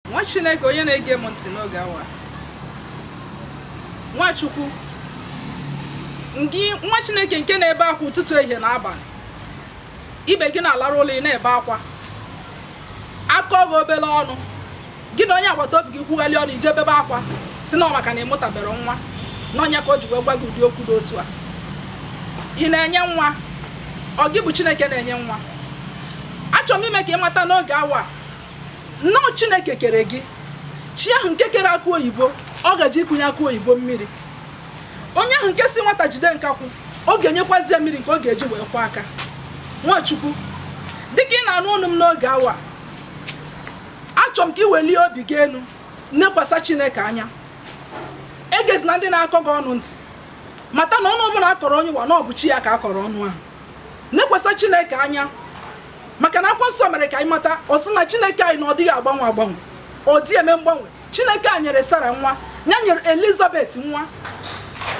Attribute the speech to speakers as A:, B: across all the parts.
A: nwa chineke onye na-ege m ntị n'oge awa nwachukwu nwa chineke nke na-ebe akwa ụtụtụ ehihie na abalị ibe gị na-alarụ ụla ị na-ebe akwa a kọọ gị obere ọnụ gị na onye agbata obi gị kwugharị ọnụ i je bebe akwa sị na maka na ị mụtabere nwa n'ọ nya ka o ji wee gwa gị ụdị okwu dị otu a ị na-enye nwa ọ gị bụ chineke na-enye nwa achọrọ m ime ka ị mata n'oge awa n'ọ chineke kere gị chi ahụ nke kere akụ oyibo ọ ga-eje ikunye akụ oyibo mmiri onye ahụ nke sị nwata jide nkakwụ ọ ga-enyekwazi ya mmiri nke ọ ga-eji wee kwọọ aka nwachukwu dịka ị na-anụ onu m n'oge awa achọrọ m ka ị welie obi gị elu nekwasa chineke anya egezina ndị na-akọ gị ọnụ ntị mata na ọnụ ọbụla a kọrọ onye ụwa na ọ bụ chi ya ka a kọrọ ọnụ ahụ nekwasa chineke anya maka na akwụkwọ nsọ mere ka anyị mata ọ sị na chineke anyị na ọ dịghị agbanwe agbanwe ọ dị eme mgbanwe chineke a nyere sara nwa ya nyere elizabeth nwa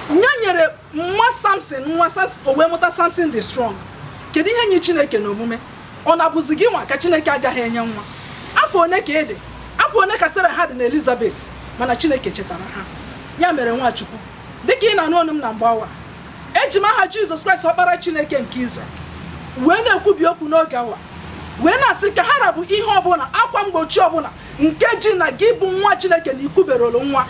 A: ya nyere nwa samson nwa o wee mụta samson dị strong kedu ihe nyịrị chineke na omume ọ na-abụzi gị nwa ka chineke agaghị enye nwa afọ one ka ede afọ one ka sara ha dị na elizabeth mana chineke chetara ha ya mere nwachukwu dịka ị na-anụ onu m na mgbe awa eji m aha jizọs kraịst ọkpara chineke nke izrel wee na-ekwubi okwu n'oge awa wee na-asị ka ha ra bụ ihe ọbụla akwa mgbochi ọbụla nke ji na gị bụ nwa chineke na i kuberolu nwa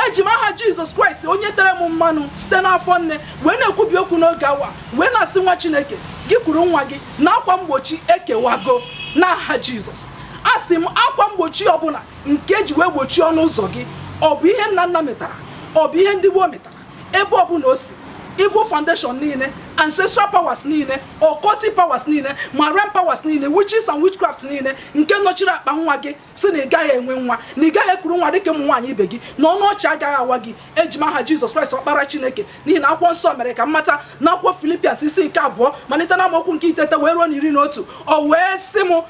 A: eji m aha jizọs kraịst onye tere m mmanụ site n'afọ nne wee na-ekwubi okwu n'oge awa wee na-asị nwa chineke gị kuru nwa gị na akwa mgbochi ekewago n'aha jizọs asị m akwa mgbochi ọbụla nke e ji wee gbochie ọnụ ụzọ gị ọ bụ ihe nna nna metara ọ bụ ihe ndị gboo metara ebe ọbụla o si evil foundation niile ancestral powers niile occultic powers niile marine powers niile witches and witchcraft niile nke nọchiri akpa nwa gị sị na ị gaghị enwe nwa na ị gaghị ekuru nwa dịka ụmụ nwaanyị ibe gị na ọnụ ọchị agaghị awa gị eji m aha jizọs kraịst ọkpara chineke n'ihi na akwụkwọ nsọ mere ka m mata na akwụkwọ philippians isi nke abụọ malite na amaokwu nke itete wee ruo na iri na otu o wee sị m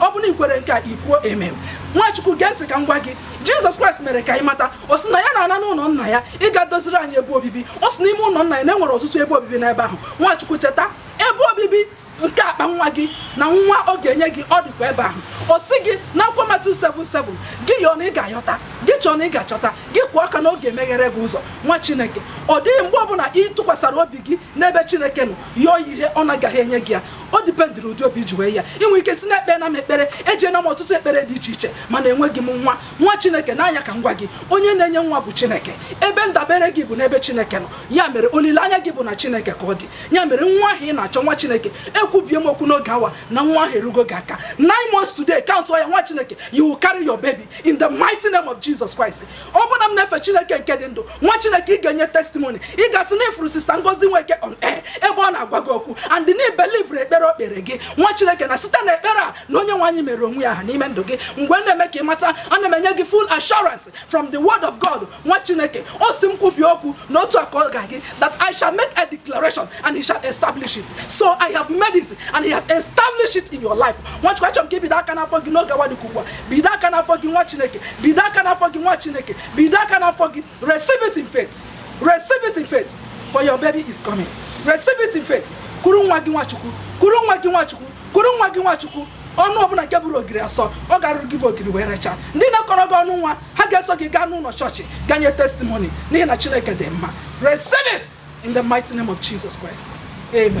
A: ọ bụrụ na i kwere nke a i kwuo amen nwachukwu gee ntị ka m gwa gị jizọs kraịst mere ka anyị mata ọ sị na ya na-ana n'ụlọ nna ya ịga doziri anyị ebe obibi ọ sị n'ime ụlọ nna ya na e nwere ọtụtụ ebe obibi n'ebe ahụ nwachukwu cheta ebe obibi nke akpa nwa gị na nwa ọ ga-enye gị ọ dịkwa ebe ahụ ọ sị gị na akwụkwọ matiu 7 7 gị yọọ na ị ga-ayọta gị chọọ na ị ga-achọta gị kụọ aka na ọ ga-emeghere gị ụzọ nwa chineke ọ dịghị mgbe ọbụla ị tụkwasịrị obi gị n'ebe chineke nọ yọọ ihe ọ na-agaghị enye gị ya ọ dịpendịrị ụdị obi i ji wee ya i nwee ike sị na ekpeena m ekpere ejeena m ọtụtụ ekpere dị iche iche mana enweghị m nwa nwa chineke nee anya ka m gwa gị onye na-enye nwa bụ chineke ebe ndabere gị bụ n'ebe chineke nọ ya mere olileanya gị bụ na chineke ka ọ dị ya mere nwa ahụ ị na-achọ nwa chineke ekwubie m okwu n'oge awa na nwa ahụ erugo gị aka nine months today countuo ya nwa chineke you will carry your baby in the mighty name of Jesus Christ ọ bụ na m na-efe chineke nke dị ndụ nwa chineke ị ga-enye testimoni ị ga-asị na ị fụrụ sista ngozi nweke on air ebe ọ na-agwa gị okwu and na i believuru ekpere o kpere gị nwa chineke na site na ekpere a na onye nwe anyị meere onwe ya aha n'ime ndụ gị mgbe na-eme ka ị mata ana m enye gị full assurance from the word of god nwa chineke ọ sị m kwubie okwu na otu a ka ọ ga-adị that i shall make a declaration and he shall establish it so i have made it and he has established it in your life nwachukwu achọrọ m ka i bido aka n'afọ gị n'oge awa dịka ugbu a bido aka n'afọ gị nwa chineke bido aka n'afọ gị nwa chineke bido aka n'afọ gị receive it in faith receive it in faith for your baby is coming receive it in faith kuru nwa gị nwachukwu kuru nwa gị nwachukwu kuru nwa gị nwachukwu ọnụ ọbụla nke bụrụ ogiri asọ ọ ga-arụrụ gị bụ ogiri wee rachaa ndị na-akọrọ gị ọnụ nwa ha ga-eso gị gaa n'ụlọ chọọchị gaa nye testimony n'ihi na chineke dị mma receive it in the mighty name of jesus christ amen